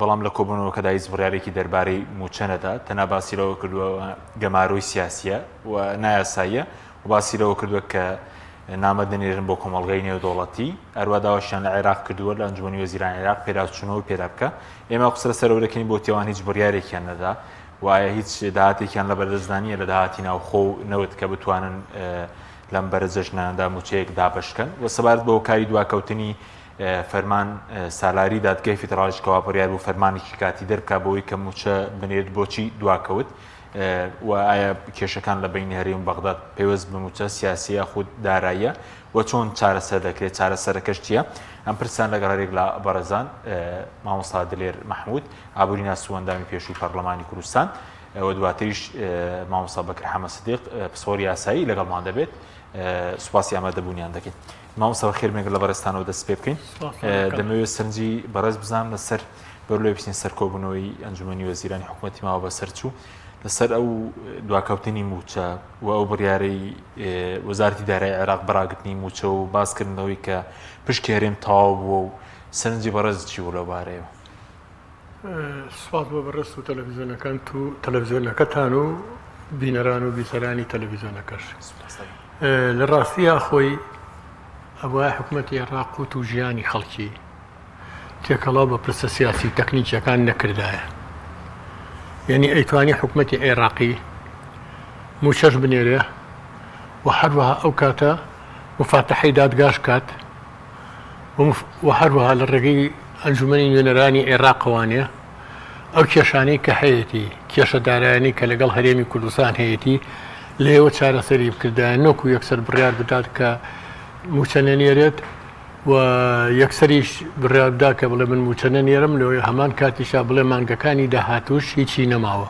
بەڵام لە کۆبوونەوەکەدا هیچ بڕیارێکی دەربارەی مووچە نەدا، تەنها باسی لەوە کردووە ئەوە گەمارۆی سیاسییە و نایاساییە و باسی لەوە کردووە کە نامە دەنێرن بۆ کۆمەڵگای نێودەوڵەتی، هەروە داواشیان لە عێراق کردووە لە ئەنجومەنی وەزیرانی عێراق پێداچوونەوەی پێدا بکە، ئێمە قسە لەسەر ئەوە دەکەین بۆچی ئەوان هیچ بڕیارێکیان نەدا و ئایا هیچ داهاتێکیان لە بەردەستدا نییە لە داهاتی ناوخۆ و نەوت کە بتوانن لەم بەرە جەژنانەدا مووچەیەک دابەشکەن و سەبارەت بە هۆکاری دواکەوتنی فەرمان، سالاری دادگای فیدراڵیش کەوا بڕیار بوو فەرمانێکی کاتی دەربکات بۆی کە مووچە بنێرێت بۆچی دواکەوت و ئایا کێشەکان لە بینی هەرێم و بەغداد پەیوەست بە مووچە سیاسی یاخود داراییە و چۆن چارەسەر دەکرێت چارەسەرەکەش چییە؟ ئەم پرسیان لەگەڵ هەریەک لە بەڕێزان مامۆستا دلێر مەحموود ئابووریناس و ئەندامی پێشووی پەرلەمانی کوردستان و دواتریش مامۆستا بەکر حەمە سدیق پسپۆر یاسایی لەگەڵمان دەبێت سوپاسی ئامادەبوونیان دەکەین. مامۆستا بەخێر بێن گەر لە بەڕێزتانەوە دەست پێ بکەین دەمەوێت سەرنجی بەڕێز بزانم لەسەر بەر لێ بچین سەر کۆبوونەوەی ئەنجومەنی وەزیرانی حکوومەتی ماوە بەسەرچوو لەسەر ئەو دواکەوتنی موچە و ئەو بڕیارەی وەزارتی دارای عێراق بەراگرتنی موچە و باسکردنەوەی کە پشکی هەرێم تەواو بووە و سەرنجی بەڕێز چی بوو لەو بارەیەوە سوپاس بۆ بەڕست و تەلەڤزیۆنەکان و تەلەڤزیۆنەکەتان و بینەران و بیسەرانی تەلەڤزیۆنەکەش لە ڕاستیە خۆی ئەوە حکوومەتی عێراق و تو ژیانی خەڵکی تێکەڵاو بە پرسە سیاسی و تەکنیکیەکان نەکردایە یعنی ئەیتوانی حکوومەتی عێراقی موچەش بنێرێ و هەروەها ئەو کاتە مفاتەحی دادگاش کات و هەروەها لە ڕێگەی ئەنجومەنی نوێنەرانی عێراقەوانێ ئەو کێشانەی کە هەیەتی کێشە دارایانی کە لەگەڵ هەرێمی کوردستان هەیەتی لێوە چارەسەری بکردایە نۆکو یەکسەر بڕیار بدات کە موچە نەنێرێت و یەکسەریش بڕیاردا کە بڵێ من موچە نەنێرم لەوەی هەمان کاتیشا بڵێ مانگەکانی داهاتوش هیچی نەماوە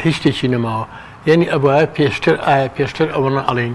هیچ شتێکی نەماوە یعنی ئەبواە پێشتر ئایا پێشتر ئەوەنە ئەڵین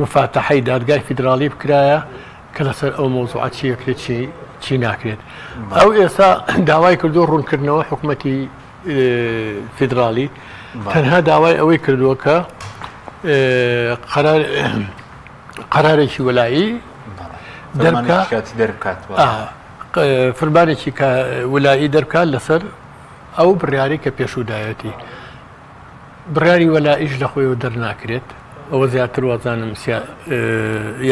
موفاتەحەی دادگای فیدراڵی بکرایە کە لەسەر ئەو مەوزوعە چی ئەکرێت چی ناکرێت ئەو ئێستا داوای کردو ڕوونکردنەوە حکوومەتی فیدراڵی تەنها داوای ئەوەی کردووە کە قەرار قەرارێکی وەلایی دەرکات فرمانێکی کە ولایی دەرکات لەسەر ئەو بڕیاری کە پێشودایەتی بڕیاری وەلائیش لە خۆیەوە دەرناکرێت، ئەوە زیاتر وازانم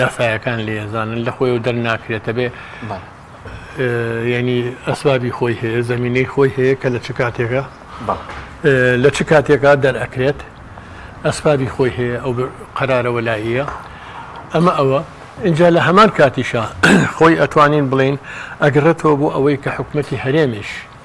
یاسایەکان لێ ئەزانن لە خۆیەوە دەرناکرێتە بێ یعنی ئەسبابی خۆی هەیە زمینەی خۆی هەیە کە لە چ کاتێکە لە چ کاتێکا دەرئەکرێت ئەسبابی خۆی هەیە ئەو قەرارەوە لاییە ئەمە ئەوە اینجا لە هەمان کاتیشە خۆی ئەتوانین بڵین ئەگرێتەوە بۆ ئەوەی کە حکوومەتتی هەرێمیش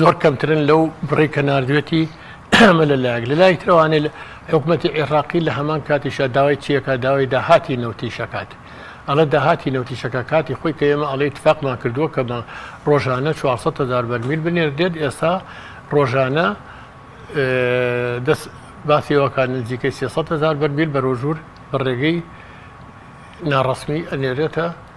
زۆر کەمترن لەو بڕەی کە ناردوێتی، ئەمە لە لایەک، لە لایەکی ترەوە ئانێ حکومەتی عێڕاقی لە هەمان کاتیشا داوای چی ئەکات، داوای داهاتی نەوتیش ئەکات، ئەڵێ داهاتی نەوتیش ئەکات، کاتی خۆی کە ئێمە ئەڵێ ئیتفاقمان کردووە کە مە ڕۆژانە چوار سەد هەزار بەرمیل بنێردێت، ئێستا ڕۆژانە دەس باسی ئەوە ئەکات نزیکەی سێ سەد هەزار بەرمیل بەرۆژوور بە ڕێگەی ناڕەسمی ئەنێرێتە.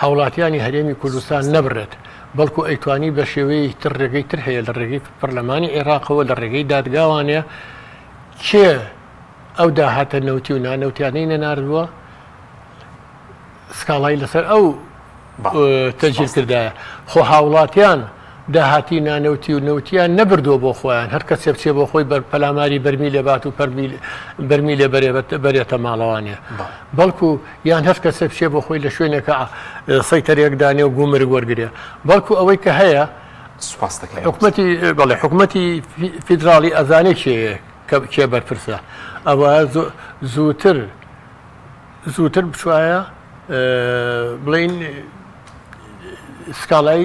هاوڵاتیانی هەرێمی کوردستان نەبرێت، بەڵکو ئەیتوانی بە شێوەیەکی تر رێگەی تر هەیە لە رێگەی پەرلەمانی عێراقەوە لە رێگەی دادگاوانێ کێ ئەو داهاتە نەوتی و نانەوتیانەی نەناردووە سکاڵای لەسەر ئەو تەجیل کردایە خۆ هاوڵاتیان داهاتی نانەوتی و نەوتیان نەبردووە بۆ خۆیان، هەر کەسێ بچێ بۆ خۆی بەر پەلاماری بەرمیلێ بات و بەرمیلێ بەرێتە ماڵەوانێ، بەڵکو یان هەر کەسێ بچێ بۆ خۆی لە شوێنێکا سەیتەرەیەک دانێ و گومرگ وەرگرێ، بەڵکو ئەوەی کە هەیە حکومەتی بەڵێ حکومەتی فیدراڵی ئەزانێ کێیە کێ بەرپرسە ئەوە زووتر زووتر بچایە بڵین سکاڵای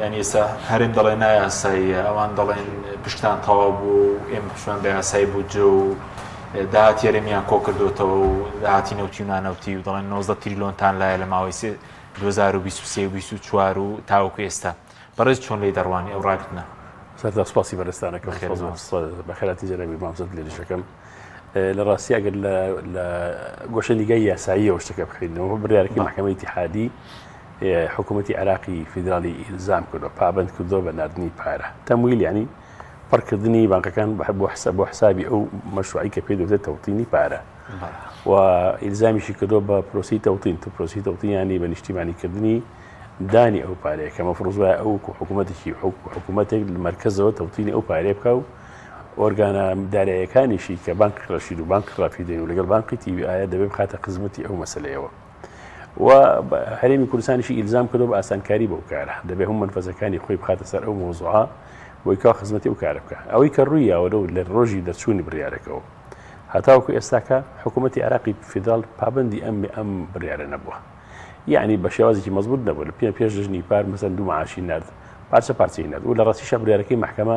یانی ئێستا هەرێم دەڵێ نایاساییە، ئەوان دەڵێن پشکتان تەواو بوو و ئێمە پشمان بە یاسای بودجە و داهاتی هەرێمیان کۆکردوێتەوە و داهاتی نەوتی و نانەوتی و دەڵێن 90 تریلۆنتان لایە لە ماوەی 2023 و 24 و تاوەکو ئێستا بەڕێز چۆن لی دەڕوانی ئەو ڕاگرتنە؟ سەرتا سپاسی بەرزتانەکە بەخێراتی جەنابی مامزد لێریشەکەم لە ڕاستی ئەگەر لە گۆشە نیگای یاساییەوە شتەکە بخینەوە بڕارکی محکەمە ئیتحادی حکومەتی عێراقی فیدراڵی ئیلزام کردووە، پابەند کردووە بە ناردنی پارە، تەمویل یانی پڕ کردنی بانکەکان بۆ حسابی ئەو مەشروعەی کە پێی دەوترێت تەوتینی پارە و ئیلزامیشی کردووە بە پرۆسی تەوتین تو پرۆسی تەوتینیانی بە نیشتیمانی کردنی دانی ئەو پارەیە کە مەفرۆزوای ئەو حکوومەتێکی حکوومەتێک لە مرکزەوە تەوتینی ئەو پارێ بکە و ئۆرگانە دارایەکانیشی کە بانک ڕەشید و بانک ڕافیدەین و لەگەڵ بانقی تیوی ئایا دەبێ بخاتە خزمەتی ئەو مەسلەیەوە و هەرێمی کوردستانیشی ئیلزام کردو بە ئاسانکاری بەو کارە دەبێ هەم منفەزەکانی خۆی بخاتە سەر ئەو مۆزوعە بۆی کا خزمەتی و کارە بکە ئەوەی کە ڕووی یاوەرە و لە ڕۆژی دەرچوونی بڕارەکەەوە هەتاوکو ئێستاکە حکوومەتتی عراقی فیدرال پابندی ئەم ئەم بڕارە نەبووە یعنی بە شێوازێکی مەزبوط نەبوو لە پێ پێش ژنی پار مەسەن دوو معاشی نرد پارچە پارچەی نرد و لە ڕاستیشە بریارەکەی محکمە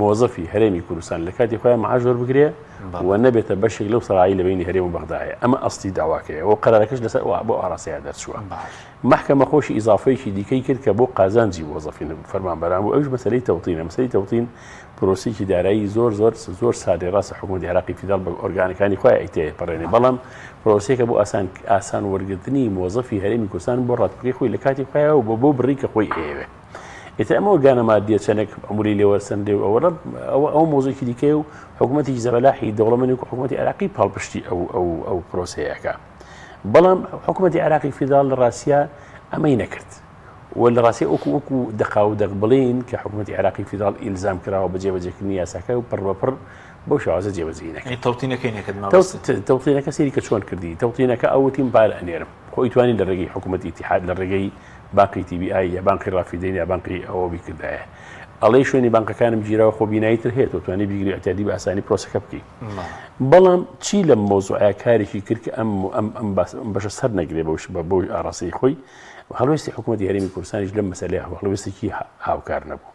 مۆزەفی هەرێمی کوردستان لە کاتی خۆیان معاش وەربگرێ و نەبێتە بەشێک لەو سەرایی لە بینی هەرێم و بەغدایە ئەمە ئەستی داواکەیە و قەرارەکەش لەسەر بۆ ئاراستەیە دەرچووە محکەمە خۆشی ئیزافەیەکی دیکەی کرد کە بۆ قازانجی وەزەفین فەرمانبەران و ئەوش مەسلەی تەوتینە مەسەی تەوتین پرۆسیکی دارایی زۆر زۆر زۆر سادی ڕاستە حکوومەت عراقی فیدال بە ئۆرگانەکانی خۆی ئەیتێ پەڕێنێ بەڵام پرۆسیەکە بۆ ئاسان ئاسان وەرگرتنی مۆزەفی هەرێمی کوردستان بۆ ڕاتپەکەی خۆی لە کاتی خۆیەوە بۆ بۆ بڕی کە خۆی ئەیەوێت ئیتر ئەمە گانە مادیە چەندێک عمری لێ وەرسەندێ و ئەوە ئەوە ئەو مۆزێکی دیکە و حکوومەتی زەبەلاحی دەوڵەمەنی و حکوومەتی عراقی پاڵپشتی ئەو ئەو ئەو پرۆسەیەەکە بەڵام حکوومەتی عراقی فیداڵ لە ڕاستە ئەمەی نەکرد و لە ڕاستی ئۆکو وەکو دەقا و دەق بڵین کە حکوومەتی عراقی فیداڵ ئیلزام کراوە بە جێبەجێکردنی یاساکە و پڕ بەپڕ بۆ شوازە جێبەجینەکە تەوتینەکەی نەکرد تەوتینەکە سری کە چۆن کردی تەوتینەکە ئەوتیم بار ئەنێرم خۆی توانین لە ڕێگەی حکوومەتی تحاد لە ڕێگەی بانقی تی بی ئای یا بانقی ڕافیدەین یا بانقی ئەوە بیکردایە ئەڵێ شوێنی بانقەکانم گیرەوە خۆ بینایی تر هەیە توانی بیگری ئەتیادی بە ئاسانی پرۆسەکە بکەیت بەڵام چی لەم مۆزوعە کارێکی کرد کە ئەم ئەم ئەم بەشە سەر نەگرێ بەوش بە بۆی ئاڕاستەی خۆی هەڵوێستی حکوومەت یاریمی کوردستانیش لەم مەسلەیە هەڵوێستێکی هاوکار نەبوو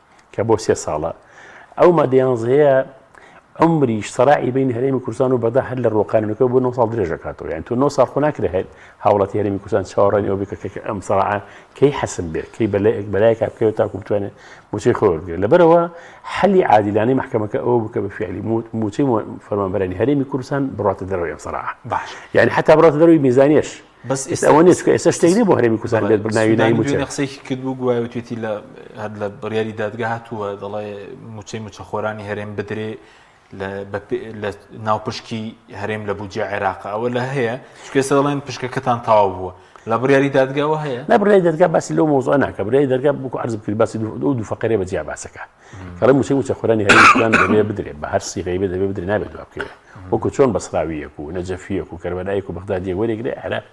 کە بۆ سێ ساڵە، ئەو مادە یانزەیە عمری سەراعی بین هەرێمی کوردستان و بەدا هەر لە ڕۆکانەکە بۆ 9 ساڵ درێژەکاتەوە یان تۆ 9 ساڵ خۆ ناکرێ هەیە هاوڵاتی هەرێمی کوردستان چاوەڕێنی ئەو بکە کە ئەم سەراعە کەی حەسم بێت کەی بەلایەک بەلایەک بکەوێت تاکو بتوانێت موچەی خۆ بگرێت لەبەرەوە حەلی عادیلانەی محکمەکە ئەو بکە بە فعلی موچەی فەرمانبەرانی هەرێمی کوردستان بڕاتە دەرەوەی ئەم سەراعە باش یعنی حتا بڕاتە دەروی میزانیش بەس ئێستا ئەوە نیە چکە ئێستا شتێک نیە بۆ هەرێمی کوردستان بێت ناوی ناوی موچە قسەیەکی کرد بوو گوایە وتێتی لە هەر لە بڕیاری دادگا هاتووە دەڵێ موچەی موچەخۆرانی هەرێم بدرێ لە ناو پشکی هەرێم لە بودجە عێراق ئەوە لە هەیە چکێسە دەڵێن پشکەکەتان تاوا بووە لە بڕیاری دادگاوە هەیە نە بڕای دەرگا باسی لەو مۆزۆ ناکە برای دەرگا بکو عرض کرد باسی دوو دوو فقرێ بە جیا باسەکە کەڵێ موچەی موچەخۆرانی هەرێمی کوردستان دەبێ بدرێ بە هەر سیغەی بێ دەبێ بدرێ نابێت جواب بکەوێ وەکو چۆن بەسراویەک و نەجەفیەک و کەربەلایەک و بەغدادیە وەرێگرێ عێراق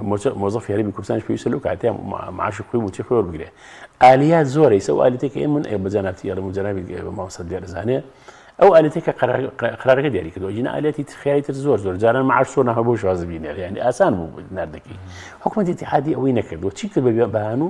موچە مۆزەفی هەرێمی کوردستان پێویستە لەو کاتێ معاش خۆی موچەی خۆی وەربگرێ ئالیات زۆرە ئیسە و ئالیتێکی ئێ من ئێ بە جەنابتی ئەڵێم و جەنابی بە مامۆستا دیارزانێ ئەو ئالیتێکە قرارەکە دیاری کردو ژینە ئالیاتی ترخیایی تر زۆر زۆر جاران معاش سۆ نەهە بۆ شازبینێر یعنی ئاسان بوو نردەکەی حکومەتی اتحادی ئەوەی نەکردو چی کرد بە بەیان بەیان و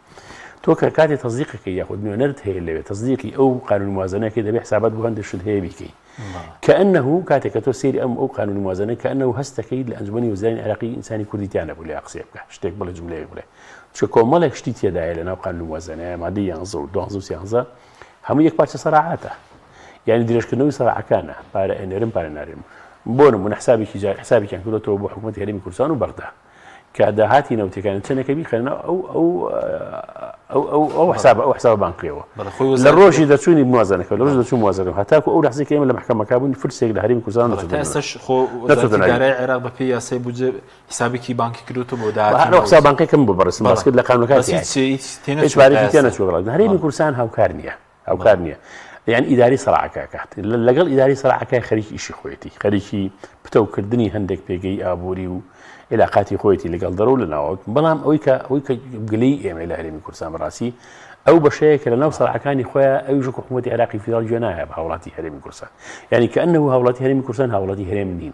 تۆ کە کاتی تەزیقەکە یاخود نوێنەرت هەیە لەوێ تەزیقی ئەو قانون موازنەکە دەبێ حسابات بۆ هەندێک شت هەیە بیکەی کە ئەنه کاتێک کە تۆ سری ئەم ئەو قانون موازنە کە ئەنە هەستەکەی لە ئەنجومی وزرانی عراقی ئینسانی کوردیتیانە بوو لە قسێ بکە شتێک بڵێ جملەیە بڵێ چ کۆمەڵێک شتی تێدایە لە ناو قانون موازنە مادی یانزە و دوانزە و سیانزە هەموو یەک پارچە سەراعاتە یعنی درێژکردنەوەی سەراعەکانە پارە ئەنێرم پارە نارێم بۆ نمونە حسابێکی جار حسابێکیان کردەوە بۆ حکوومەت هەرمی کوردستان و بەغدا کە داهاتی نەوتەکانی چەندەکە بیخەنە ئەو ئەو ئەو حساب ئەو حساب بانکیەوە لە ڕۆژی دەچوونی موازنەکە لە ڕۆژ دەچوو موازنە هەتاکو ئەو لەحزی کەمە لە محکەمەکە بوون فرسێک لە هەریم کوردستان خۆدارای عێراق بە پێی یاسای بجێ حسابێکی بانکی کردوتە بۆ داحساب بانکەکەم بۆ بەڕسم باسکرد لە قانونەکە هەرمی کوردستان هاوکار نییە هاوکار نیە یان ئیداری سەراکای کات لەگەڵ ئیداری سەراکای خەریکی ئیشی خۆیەتی خەریکی پتەوکردنی هەندێک پێگەی ئابووری و عێلاقاتی خۆیەتی لەگەڵ دەرەوە لە ناوەوت بەڵام ئەوی کە ئەوی کە گلەی ئێمە لە هەرێمی کورسان بەڕاستی ئەو بەشەیە کە لە ناو سەراکانی خۆیان ئەوی ژک حکوومەتی عراقی فیدرال گوێ نایە بە هاوڵاتی هەرێمی کورسان یعنی کە ئەنه هاوڵاتی هەرێمی کورسان هاوڵاتی هەرێم نین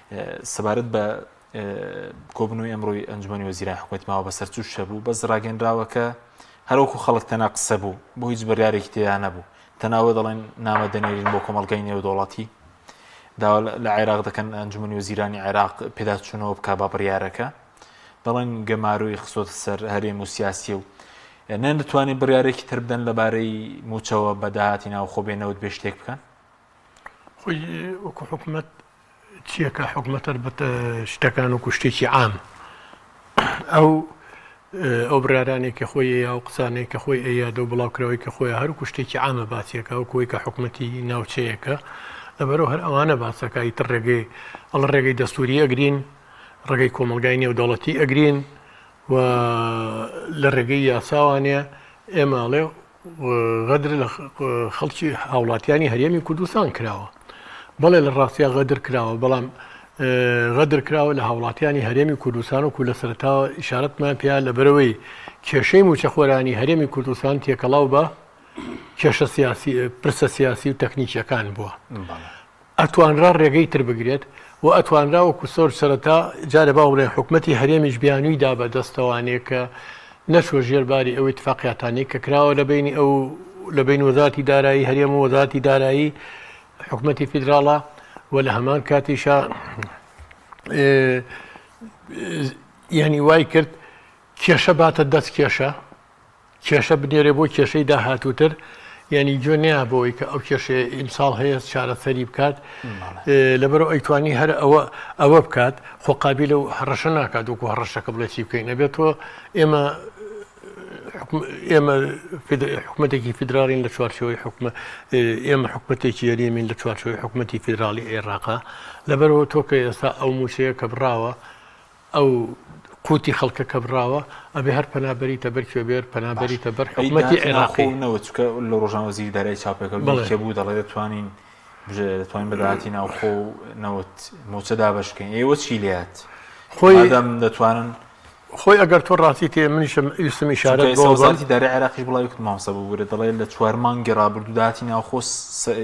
سەبارەت بە کۆبنەوەی ئەمڕۆی ئەنجومی وەزیران حکوومەت ماوە بەسەر چوش هەبوو بەس ڕاگەنراوەکە هەروەکو خەڵک تەنا قسە بوو بۆ هیچ بڕارێکی تێدا نەبوو تەناوە دەڵێن نامە دەنێرین بۆ کۆمەلگای نێودوڵەتی داوا لە عێراق دەکەن ئەنجومی وزیرانی عێراق پێداچوونەوە بک با بڕارەکە دەڵێن گەماروی خسۆت سەر هەرێم و سیاسی و نەن دەتوانین بڕارێکی تر بدەن لەبارەی موچەوە بەداهاتی ناوخۆ بێنەوت بێ شتێک بکەن خۆی وەکو حکومەت چیەکە حکومەتەر بە شتەکان و کوشتێکی عام ئەو ئەو برارانێک کە خۆی یا و قسانێک کە خۆی ئەیا دە بڵاوکراوی کە خۆی هەر کوشتێکی عامە باسیەکە و کۆی کە حکومەتی ناوچەیەەکە لەبەرەوە هەر ئەوانە باسەکەی تر ڕێگەی ئەڵ ڕێگەی دەستوری ئەگرین ڕێگەی کۆمەلگای نێودەوڵەتی ئەگرین و لە ڕێگەی یاساوانەیە ئێماڵێ غەدر لە خەڵکی هاوڵاتیانی هەرێمی کوردستان کراوە بەڵێ لە ڕاستیا غەدر کراوە بەڵام غەدر کراوە لە هاوڵاتیانی هەرێمی کوردستان و کو لە سەرتاوە ئشارەتمان پێیا لە بەرەوەی کێشەی موچەخۆرانی هەرێمی کوردستان تێکەڵاو بە کێشە سیاسی پرسە سیاسی و تەکنیکیەکان بووە ئەتوانرا رێگەی تر بگرێت و ئەتوانرا وەکو سۆرج سەرەتا جارێ با بڵێین حکومەتی هەرێمیش بیانووی دا بە دەستەوانێ کە نەچووە ژێر باری ئەو ئیتفاقیاتانەی کە کراوە لە بەینی ئەو لە بەین وەزاتی دارایی هەرێم و وەزاتی دارایی حکومەتی فیدراڵە و لە هەمان کاتیشە یعنی وای کرد کێشە باتە دەست کێشە کێشە بنێرێ بۆ کێشەی داهاتووتر یعنی گوێ نەیە بەوەی کە ئەو کێشەیە ئیمساڵ هەیە چارەسەری بکات لەبەرو ئەیتوانی هەر ئەوە ئەوە بکات خۆقابی لەو هەڕەشە ناکات وکو هەڕەشەکە بڵێتی بکەین نەبێت تۆ ئێمە ئێمە حکوومەتێکی فیدراڵین لە چوارچەوەی حکومە ئێمە حکوومەتێکی یەریمین لە چوارچەوەی حکوومەتتی فیدراڵی عێراقا لەبەرەوە تۆکە ئێستا ئەو موچەیە کە بڕاوە ئەو قوتی خەڵکە کە بڕاوە ئەبێ هەر پەنا بەریتە بەر کوێ بێر پەنا بەریتە بەر حکومەتی عێراقی نەوە چکە لە ڕۆژان وەزیری دارای چاپەکە بڵێ بوو دەڵێ دەتوانین دەتوانین بەداتی ناوخۆ و نەوت موچە دابشکەین ئێوە چی لات خۆی دەم دەتوانن خۆی ئەگەر تۆ ڕاستی تێ منیشم ئیسمی شارە وەزارتی دارە عێراقی بڵاوی کت مامسە ببوورە دەڵێت لە چوار مانگی ڕابردوو داهاتی ناوخۆ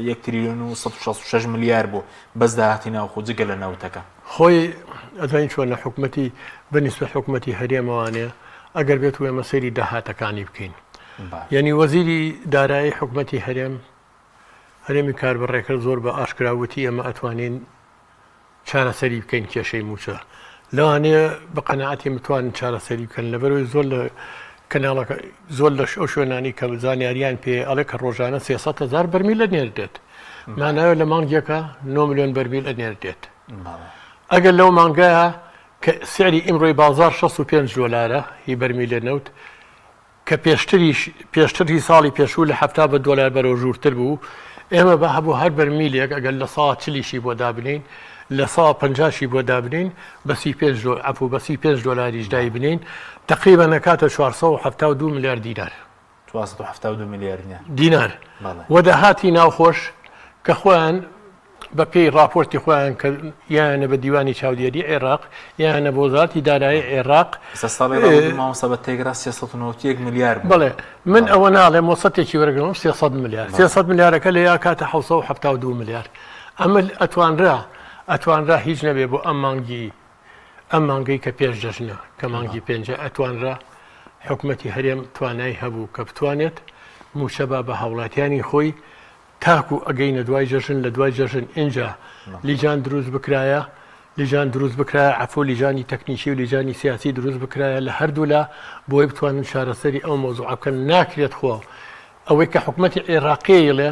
یەک تریلیۆن و 16 میلیار بوو بەس داهاتی ناوخۆ جگە لە ناوتەکە خۆی ئەزانی چۆنە حکومەتی بە نیسبەت حکومەتی هەرێمەوانێ ئەگەر بێت و ئێمە سەیری داهاتەکانی بکەین یەنی وەزیری دارایی حکومەتی هەرێم هەرێمی کار بە ڕێکرد زۆر بە ئاشکراوتی ئێمە ئەتوانین چارەسەری بکەین کێشەی موچە لەوانەیە بە قەنەعاتی متوان چارەسەری بکەن لەبەرەوەی زۆر لە کەناڵەکە زۆر لەش ئەو شوێنانی کە زانیاریان پێ ئەڵێ کە ڕۆژانە سێسە هزار بەرمی لە نێردێت ماناوێ لە مانگیەکە نۆ ملیۆن بەرمیل ئەنێردێت ئەگەر لەو مانگایە کە سعری ئیمڕۆی بازار 65 دۆلارە هی بەرمیلێ نەوت کە پێشتریش پێشتری ساڵی پێشوو لە هەفتا بە دۆلار بەرەو ژوورتر بوو ئێمە بە هەبوو هەر بەرمیلێک ئەگەر لە سا چلیشی بۆ دابنین لە سا پنجشی بۆ دابنین بەسی پێ ئەپو بەسی پێ دۆلاریش دای بنین تقریبا نەکاتە 472 میلیارد دینار چوار سەد و حەفتا و دوو ملیار دینار. دینار. بەڵێ. و داهاتی ناوخۆش کە خۆیان بە پێی ڕاپۆرتی خۆیان کە یانە بە دیوانی چاودێری عێراق یانە بۆ وەزارەتی دارایی عێراق ئێستا ساڵی ڕابردوو مامۆستا بە تێگرا سێ سەد و نەوەد و یەک ملیار بوو. بەڵێ من بەڵێ. ئەوە ناڵێم وەسەتێکی وەرەگرم سێ سەد ملیار سێ سەد ملیارەکە لە یا کاتە حەوت سەد و حەفتا و دوو ملیار ئەمە ئەتوانرا ئەتوانرا هیچ نەبێ بۆ ئەم مانگی ئەم مانگەی کە پێش جەژنە کە مانگی پێنجە ئەتوانرا حکومەتی هەرێم توانای هەبوو کە بتوانێت موچە با بە هاوڵاتیانی خۆی تاکو ئەگەینە دوای جەژن لە دوای جەژن ئینجا لیجان دروست بکرایە لیجان دروست بکرایە عفو لیجانی تەکنیکی و لیجانی سیاسی دروست بکرایە لە هەردوولا بۆی بتوانن چارەسەری ئەو مۆزوع بکەن ناکرێت خۆ ئەوەی کە حکومەتی عێراقیڵێ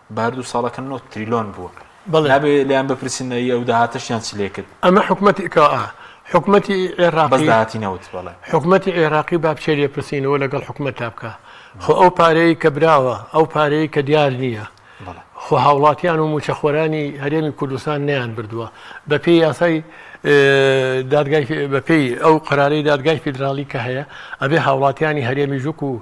بە هەردوو ساڵەکە نۆ تریلۆن بووە نابێ لێیان بپرسین نەی ئەو داهاتەشیان چ لێ کرد ئەمە حکومەتی کە حکومەتی عێراقی داهاتی نەوت بەڵێ حکومەتی عێراقی با بچێ لێ پرسینەوە لەگەڵ حکومەت تا بکە خۆ ئەو پارەیە کە براوە ئەو پارەیە کە دیار نییە خۆ هاوڵاتیان و موچەخۆرانی هەرێمی کوردستان نیان بردووە بەپی یاسای دادگای بەپی ئەو قرارەی دادگای فیدراالی کە هەیە ئەبێ هاوڵاتیانی هەرێمی ژوک و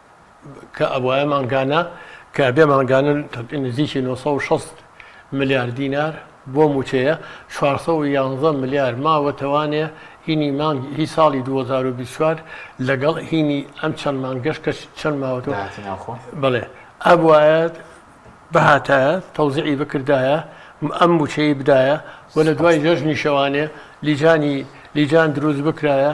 کە ئەبوایە مانگانە کە بێ مانگانە نزیکی 960 ملیار دینار بۆ مووچەیە، 411 ملیار ماوە توانێ هینی مانگ هی ساڵی 2024 لەگەڵ هینی ئەم چەند مانگەش کە چەند ماوەتەوە داهاتی ناوخۆ. بەڵێ ئەبوایە بهاتایە تەوزیعی بکردایە ئەم مووچەی بدایە و لە دوای جەژنی شەوانێ لیجانی لیجان دروست بکرایە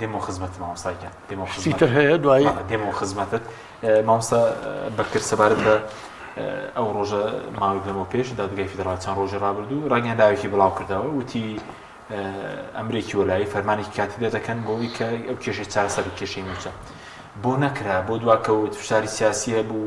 دێمەوە خزمەتت مامۆستای گیان دێمەوە شتی خزمەتت تر هەیە دوایی بەڵێ دێمەوە خزمەتت ئە، مامۆستا ئە، بەکر سەبارەت بە ئە، ئەو ڕۆژە ماوەیەک لەمەو پێش دادگای فیدراڵ چەند ڕۆژی ڕابردوو ڕاگەیەندراوێکی بڵاو کردەوە وتی ئە، ئەمرێکی وەلایی فەرمانێکی کاتی دەردەکەن بۆ ئەوی کە ئەو کێشەی چارەسەر بکە، کێشەی مووچە بۆ نەکرا بۆ دواکەوت فشاری سیاسی هەبوو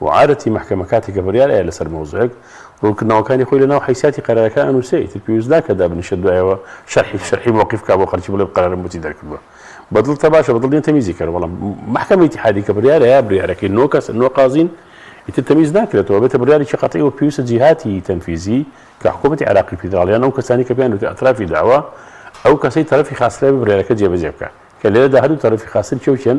وعادەتی مەحکەمە کاتێکە بڕیار ئەیە لەسەر مەوزوعێک، ڕوونکردنەوەکانی خۆی لەناو حەیسیاتی قەرارەکە ئەنووسێ، ئیتر پێویست ناکا دابنیشێ دوایەوە شەرحی شەرحی مەوقیف بکا بۆ خەڵکی بڵێ قەرارم بۆچی دەرکردووە. بە دڵتە باشە، بە دڵ نییە تەمیزی کەرە، بەڵام مەحکەمە ئیتیحادی کە بڕیار ئەیا بڕیارەکەی نۆ کەسن، نۆ قازین، ئیتر تەمیز ناکرێتەوە، ئەبێتە بڕیارێکی قەتعی و پێویستە جیهاتی تەنفیزی کە حکوومەتی عێراقی فیدراڵ یان ئەو کەسانەی کە پێیان وتە ئەترافی داوا، ئەو کەسەی تەرەفی خاسترە بێ بڕیارەکە جێبەجێ بکا. کە لێرەدا هەردوو تەرەفی خاستر کێ و کێن؟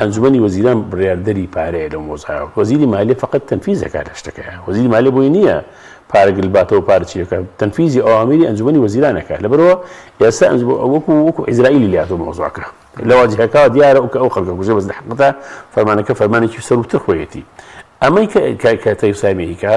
ئەنجومەنی وەزیران بڕیاردەری پارەیە لەو مۆزایە، وەزیری مالیە فەقەت تەنفیز دەکات لە شتەکەیا، وەزیری مالیە بۆی نییە پارە گلباتەوە پارە چی دەکات، تەنفیزی ئەوامری ئەنجومەنی وەزیران ئەکات، لەبەرئەوە ئێستا ئەنجومەنی وەکو وەکو عیزرائیلی لاتۆ مۆزاکە، لەواجهەکەوە دیارە ئەو کە ئەو خەڵکە کوژە بەس لە حەقتە فەرمانەکە فەرمانێکی سەرووتر خۆیەتی ئەمەی کە کە کە تەیف سامی ئەیکا،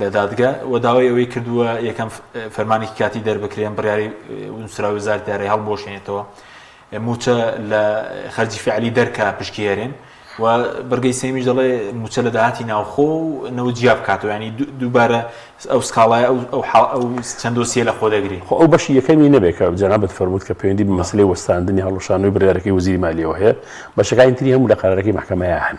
لە دادگە و داوای ئەوەی کردووە یەکەم فەرمانێکی کاتی دەربکرێن بڕیاری نووسراوی وزارەتی دارایی هەڵبوەشێنێتەوە موچە لە خەرجی فعلی دەرکە پشکی هێرێن و بەرگەی سێمیش دەڵێ موچە لە داهاتی ناوخۆ و نەوە جیا بکاتەوە ینی دووبارە ئەو سکاڵای ئەو چەند دۆسیە لە خۆ دەگری خۆ ئەو بەشی یەکەمی نەبێت کە جەنابەت فەرمووت کە پەیوەندی بە مەسلەی وەستاندنی هەڵوەشاندنەوەی بڕیارەکەی وەزیری مالیەوە هەیە بەشەکانی تری هەموو لە قەرارەکەی مەحکەمەیە هەن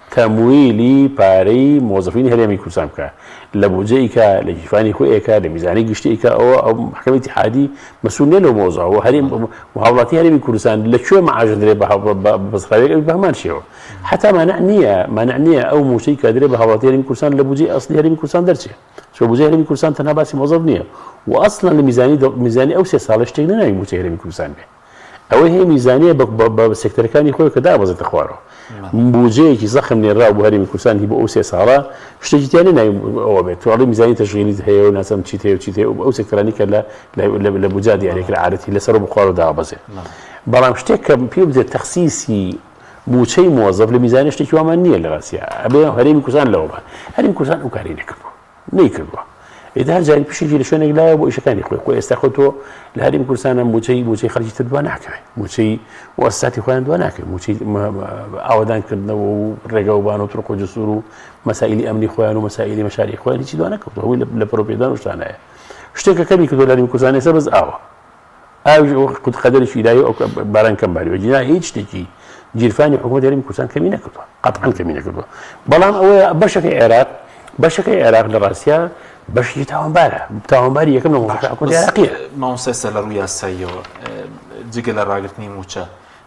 تەمویلی پارەی مۆزەفینی هەرێمی کوردستان بکا لە بودجە ئیکا لە گیرفانی خۆی ئەیکا لە میزانی گشتی ئیکا ئەوە ئەو مەحکەمە ئیتیحادی مەسول نیە لەو مەوزوعە وە هەرێم وە هاوڵاتی هەرێمی کوردستان لە کوێ مەعاش درێ بە بەسڕاوێک ئەوی بە هەمان شێوە حەتا مانع نیە مانع نیە ئەو موچەی کە ئەدرێ بە هاوڵاتی هەرێمی کوردستان لە بودجەی ئەسڵی هەرێمی کوردستان دەرچێ چۆ بودجەی هەرێمی کوردستان تەنها باسی مۆزەف نیە وە ئەسڵەن لە میزانی میزانی ئەو سێ ساڵەی شتێک نیە ناوی موچەی هەرێمی کوردستان بێ ئەوەی هەیە میزانیە بە سێکتەرەکانی خۆی کە دابەزێتە خوارەوە بودجەیەکی زەخم نێراو بۆ هەرێمی کوردستان هی بۆ ئەو سێ ساڵە شتێکی تیانە ناوی ئەوە بێت تواڵی میزانی تەشغیلیت هەیە و ناسم چیت هەیە و چیت هەیە ئەو سێکتەرانی کە لە لە بودجا دیارە کرد عادەتی لەسەر و بخوارەوە دابەزێت بەڵام شتێک کە پێ بدرێت تەخسیسی موچەی مۆزەف لە میزانە شتێکی وامان نییە لە ڕاستە ئەبێ هەرێمی کوردستان لەوە بە هەرێمی کوردستان ئەو کاری نەکردووە نەیکردوە ئیدی هەر جاری پشکی لە شوێنێک لایە بۆ ئیشەکانی خۆی خۆی ئێستا خۆ تۆ لە هەریم کوردستانە موچەی موچەی خەرجی تر دوا ناکەوێت موچەی وەساتی خۆیان دوا ناکەێت موچەی ئاوادان کردنەوە و ڕێگەوبان و ترق و جسور و مەسائلی ئەمنی خۆیان و مەسائلی مەشاری خۆیان هیچی دوا نەکەوتەوەی لە پرۆپێدان شتانەیە شتێکە کەمی کردو لەریم کوردستان ێستا بەس ئاوە ئاویش ئەوە قوت قەدەرشی لایە ئەو باران کەم باری وەجینا هیچ شتێکی گیرفانی حکوومەت هەرمی کوردستان کەمی نەکردووە قەتحان کەمی نەکردووە بەڵام ئەوە بەشەکە عێراق بەشەکە عێراق لە ڕاستە بەشی تاوانبارە تاوانباری یەکەم لە مەڵقیە ماوسێسە لە ڕووی یاساییەوە جگە لە ڕاگررتنی موچە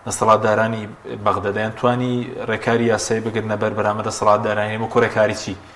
دەسەڵاتدارانی بەغدەدایان توانی ڕێکاری یاسایی بگرنە بەر بەرامە دەسەڵاتدارانی وەکو ڕێکاریی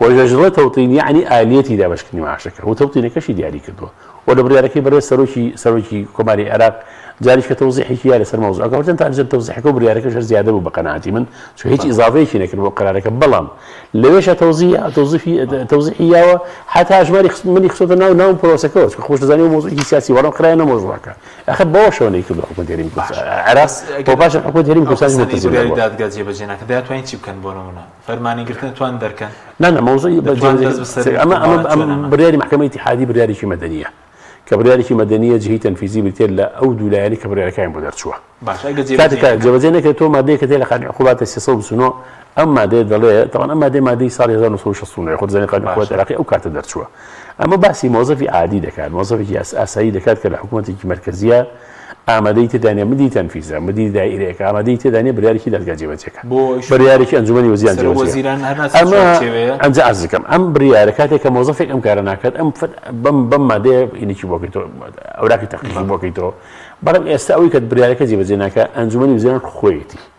و ژەژڵە تەوتین یەعنی ئالیەتی دابەشکردنی معاشەکە و تەوتینەکەشی دیاری کردووە و لە بڕیارەکەی بەڕێز سەرۆکی سەرۆکی کۆماری عێراق جاریش کە تەوزیحێکی یا لەسەر مەوزوعەکە وەرچەند تاجر تەوزیحەکە و بڕیارەکەش هەر زیادە بوو بە قەناعەتی من چون هیچ ئیزافەیەکی نەکرد بۆ قەرارەکە بەڵام لەوێشە تەوزیح تەوزیفی تەوزیحی یاوە حتا ژماری خست منی خستۆتە ناو ناو پرۆسەکەەوە چکە خۆش دەزانی و مۆزوعی سیاسی وەڵام خرایەنە مۆزوعەکە ئەخە بەوە شەوە نەیکردو حکومەت هەرێمی کوردستان عێراق بۆ پاشە حکومەت هەرێمی کوردستان ملتزم بووە دادگا جێبەجێ ناکرد دەیانتوانی چی بکەن بۆ نموونە فەرمانی گرتن توان دەرکەن نانە مەوزوعی ئەمە ئەمە بریاری محکمە اتحادی بریارێکی مەدەنیە کە بریارێکی مەدەنیە جهی تەنفیزی بریتێت لە ئەو دوولایەنی کە بریارەکەیان بۆ دەرچووە جێبەجێ نەکرێت تۆ مادەیە کە تێ لە قانون عقوبات 309 ئەم مادەیە دەڵێ تەوان ئەم مادەی مادەی ساڵی 1960 خۆ دەزانێت قانون عقوبات عراقی ئەو کاتە دەرچووە ئەمە باسی مۆزەفی عادی دەکات مۆزەفێکی ئاسایی دەکات کە لە حکوومەتێکی مەرکەزیە ئامادەیی تێدا نیە مدیری تەنفیزە، مدیری دائیرەیەکە ئامادەیی تێدا نیە بریارێکی دادگا جێبەجێکا، بریارێکی ئەنجومەنی وەزیران جێبەجێکا، ئەمە ئەنجا عەرز دەکەم ئەم بریارە کاتێک کە مۆزەفێک ئەم کارە ناکات ئەم بەم بەم مادەیە ئینکی بۆ کەیتۆ ئەوراقی تەحقیقی بۆ کەیتۆ، بەڵام ئێستا ئەوەی کە بریارەکە جێبەجێ ناکا ئەنجومەنی وەزیران خۆیەتی.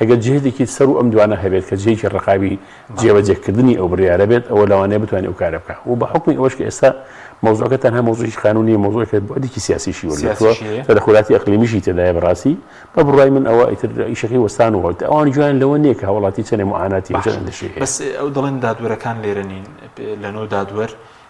ئەگەر جهدێکی سەر و ئەم دوانە هەبێت کە جهێکی ڕقاوی جێبەجێ کردنی ئەو بڕیارە بێت ئەوە لەوانەیە بتوانێت ئەو کارە بکات و بە حوکمی ئەوەش کە ئێستا مەوزوعەکە تەنها مەوزوعێکی قانونی نیە مەوزوعێکە بوعدێکی سیاسیشی وەرگرتووە سیاسیش هەیە تەدەخولاتی ئەقلیمیشی تێدایە بە ڕاستی بە بڕوای من ئەوە ئیتر ئیشەکەی وەستانەوە ئیتر ئەوان گوێیان لەوە نیە کە هاوڵاتی چەنێ موعاناتی و چەند باشە ئەندێشەی هەیە. بەس ئەو دەڵێن دادوەرەکان لێرە نین لە نۆ دادوەر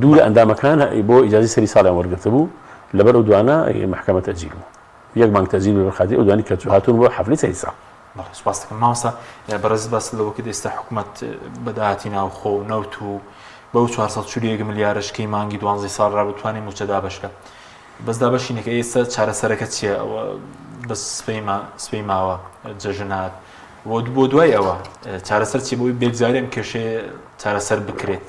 دوو لە ئەندامەکان بۆ ئیجازەی سەری ساڵیان وەرگرتبوو، لەبەر ئەو دوانە مەحکەمە تەجیل بوو. یەک مانگ تەجیل بوو لەبەر خاتری ئەو دوانەی کە هاتوون بۆ حەفلەی سەری ساڵ. بەڵێ سوپاست دەکەم. مامۆستا بەڕێزت باست لەوە کرد ئێستا حکومەت بە داهاتی ناوخۆ و نەوت و بەو چوار سەد و چل و یەک ملیارەش کەی مانگی دوانزەی ساڵ رابوو توانی مووچە دابەش کات. بەس دابەشی نەکرد. ئەی ئێستا چارەسەرەکە چییە؟ ئەوە بەس سبەیما سبەی ماوە جەژن هات و بۆ دوای ئەوە چارەسەر چییە بۆ ئەوەی بێگزاویان کێشەیە چارەسەر بکرێت؟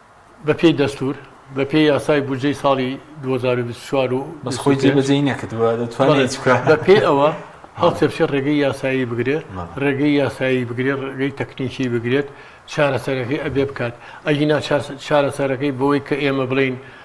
بەپێی دەستوور، بەپێی یاسای بودجەی ساڵی دوو هەزار و بیست و چوار و بەس خۆی جێ بە جێی نەکردووە دەتوانێت هیچ بکات. بەڵێ، بەپێی ئەوە هەڵتێپچێت ڕێگەی یاسایی بگرێت، بەڵێ. ڕێگەی یاسایی بگرێت، ڕێگەی تەکنیکی بگرێت، چارەسەرەکەی ئەبێ بکات. ئەگینا چارەسەرەکەی بۆی کە ئێمە بڵێین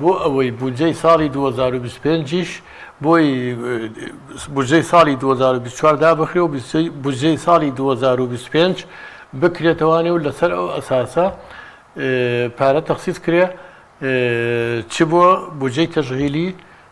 بۆ ئەوەی بودجەی ساڵی دوو هەزار و بیست و پێنج یش بۆی بودجەی ساڵی دوو هەزار و بیست و چوار دابخرێ و بودجەی ساڵی دوو هەزار و بیست و پێنج بکرێتەوانێ و لەسەر ئەو ئەساسە پارە تەخسیس کرێ چ بۆ بودجەی تەشغیلی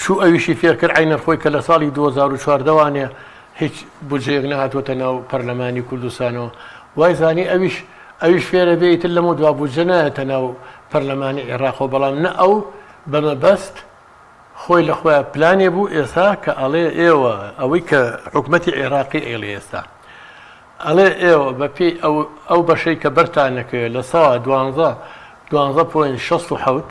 چوو ئەویشی فێرکرد عەینەن خۆی کە لە ساڵی دوو هەزار و چواردە وانێ هیچ بودجەیەک نەهاتووەتە ناو پەرلەمانی کوردستانەوە وای زانی ئەویش ئەویش فێرە بێ ئیتر لەمەو دوا بودجە نایەتە ناو پەرلەمانی عێراقەوە بەڵام نە ئەو بە مەبەست خۆی لە خۆیان پلانێ بوو ئێستا کە ئەڵێ ئێوە ئەوەی کە حکومەتی عێراقی ئەیڵێ ئێستا ئەڵێ ئێوە بە پێی ئەو ئەو بەشەی کە بەرتانەکەوێت لە سەوا دوانزە دوانزە پۆین شەست و حەوت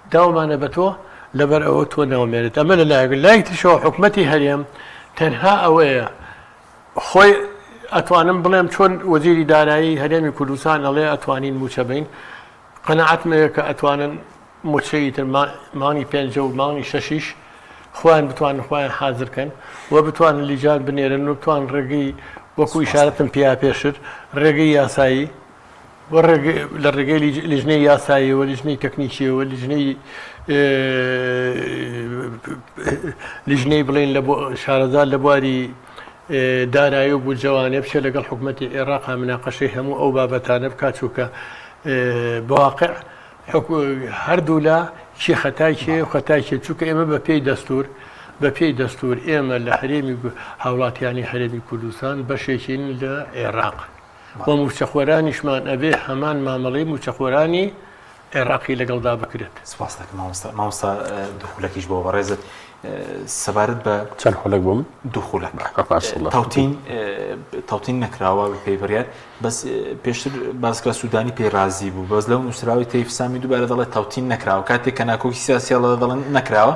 داومانە بە تۆ لەبەر ئەوە تۆ ناومێرت ئەمە لە لایەک لە لایەکی تریشەوە حکومەتی هەرێم تەنها ئەوەیە خۆی ئەتوانم بڵێم چۆن وەزیری دارایی هەرێمی کوردستان ئەڵێ ئەتوانین مووچە بەین قەناعەتمە یە کە ئەتوانن مووچەی تر مانگی پێنجە و مانگی شەشیش خۆیان بتوانن خۆیان حازر کەن و بتوانن لیجان بنێرن و بتوان ڕێگەی وەکو ئیشارەتم پیا پێشتر ڕێگەی یاسایی لە ڕێگەی لیژنەی یاساییەوە، لیژنەی تەکنیکییەوە، لیژنەی لیژنەی بڵێن لە شارەزا لە بواری دارایی و بودجەوانێ بچێت لەگەڵ حکوومەتی عێراقا مناقەشەی هەموو ئەو بابەتانە بکات چووکە بەواقع هەردوولا چی خەتای چێ و خەتای چێت چووکە ئێمە بە پێی دەستور بە پێی دەستور ئێمە لە هەرێمی هاوڵاتیانی هەرێمی کوردستان بەشێکین لە عێراق. و مووچەخۆرانیشمان ئەبێ هەمان مامەڵەی مووچەخۆرانی عێراقی لەگەڵدا بکرێت سپاس دەکەم مامۆستا مامۆستا دوخولەکیش بۆ بەڕێزت سەبارەت بە چەند خولەک بووم دوخولەک تاوتین تاوتین نەکراوە بە پێیبڕات بەس پێشتر باسکرا سوودانی پێی رازی بوو بەس لەو نووسراوی تەیفسامی دووبارە دەڵێت تاوتین نەکراوە کاتێک کە ناکۆکی سیاسیڵە دەڵێن نەکراوە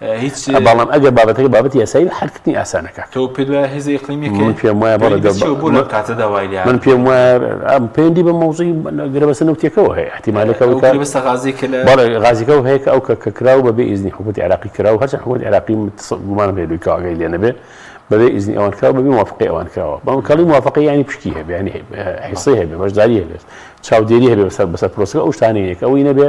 هیچ بەڵام ئەگەر بابەتەکە بابەتی یاسایی بێ حەلکردنی ئاسانە کاکە تۆ پێت وایە هێزە ئیقلیمیەکەی من پێم وایە بەڵێ دەست چیە بۆ لەم کاتەدا وای لێ من پێم وایە ئەم پەیوەندی بە مەوزوعی گرێبەستە نەوتیەکەوە هەیە احتیمالەکە ئەو گرێبەستە غازی کە لە بەڵێ غازیکەوە هەیە کە ئەو کە کە کراو بە بێ ئیزنی حکومەتی عێراقی کراو هەرچەند حکومەتی عێراقی گومانم هەیە لۆی کاگەی لێ نەبێ بەبێ ئیزنی ئەوان کراو بەبێ موافقەی ئەوان کراوە بەڵام کەڵی موافقەی ینی پشکی هەبێ ینی حیسەی هەبێ بەشداری هەبێت چاودێری هەبێ بەسەر بەسەر پرۆسەکە ئەو شتانەیە کە ئەوی نەبێ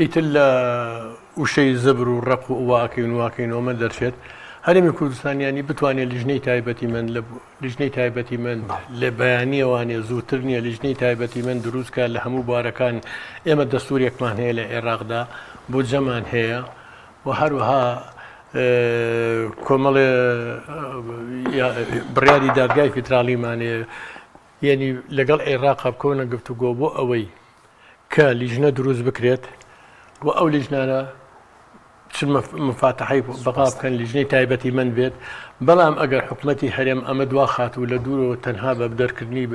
ئیتر لە وشەی زەبر و ڕەق و واکەین و واکەینۆمە دەرچێت هەرێمی کوردستان ینی بتوانێت لیژنەی تایبەتی من لە لیژنەی تایبەتی من لە بەیانیەوانێ زووتر نییە لیژنەی تایبەتی من دروستکە لە هەموو بارەکان ئێمە دەستورێکمان هەیە لە عێراقدا بۆ جەمان هەیە و هەروەها کۆمەڵێ بڕیاری دادگای فیدراڵیمانێ یعنی لەگەڵ عێراق بکەونە گفتوگۆ بۆ ئەوەی کە لیژنە دروست بکرێت و ئەو لیژنانە چ مفاتحی بەغا بکەن لیژنەی تایبەتی من بێت بەڵام ئەگەر حکوومەتتی هەرێم ئەمە دوا خات و لە دوورەوە تەنها بە دەرکردنی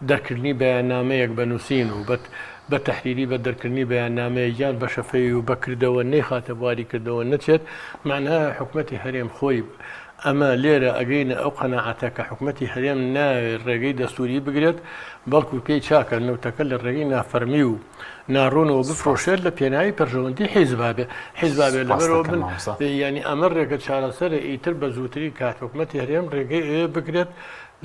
دەرکردنی بەیاننامەیەک بە نووسین و بەت بە تحریری بە دەرکردنی بەیاننامەیە یان بە شەفەوی و بەکردەوە نەیخاتە بواری کردەوە نەچێت معناە حکوومەتتی هەرێم خۆی ئەمە لێرە ئەگەینە ئەو قەناعەتە کە حکومەتی هەرێم نایەوێت ڕێگەی دەستووری بگرێت، بەڵکو پێی چاکە نەوتەکە لە ڕێگەی نافەرمی و ناڕوونەوە بفرۆشێت لە پێناوی بەرژەوەندی حیزبابێت لەبەرەوە بن، یانی ئەمە ڕێگە چارەسەرە ئیتر بە زووترین کات حکومەتی هەرێم ڕێگەی ئەوێ بگرێت،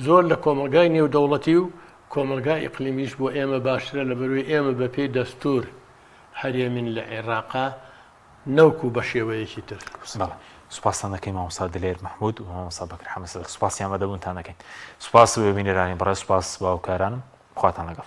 زۆر لە کۆمەڵگای نێودەوڵەتی و کۆمەڵگای ئیقلیمیش بۆ ئێمە باشترە لەبەروەی ئێمە بەپێی دەستوور هەرێمین لە عێراق نەوکو بە شێوەیەکی تر. بەڵێ سوپاستان دەکەین مامۆستا دلێر مەحمود و مامۆستا بەکر حەمە سەدر سوپاسی ئامادەبوونتان دەکەین سوپاس بینەرانی بەڕێز سوپاس با وکارانم خواتان لەگەڵ.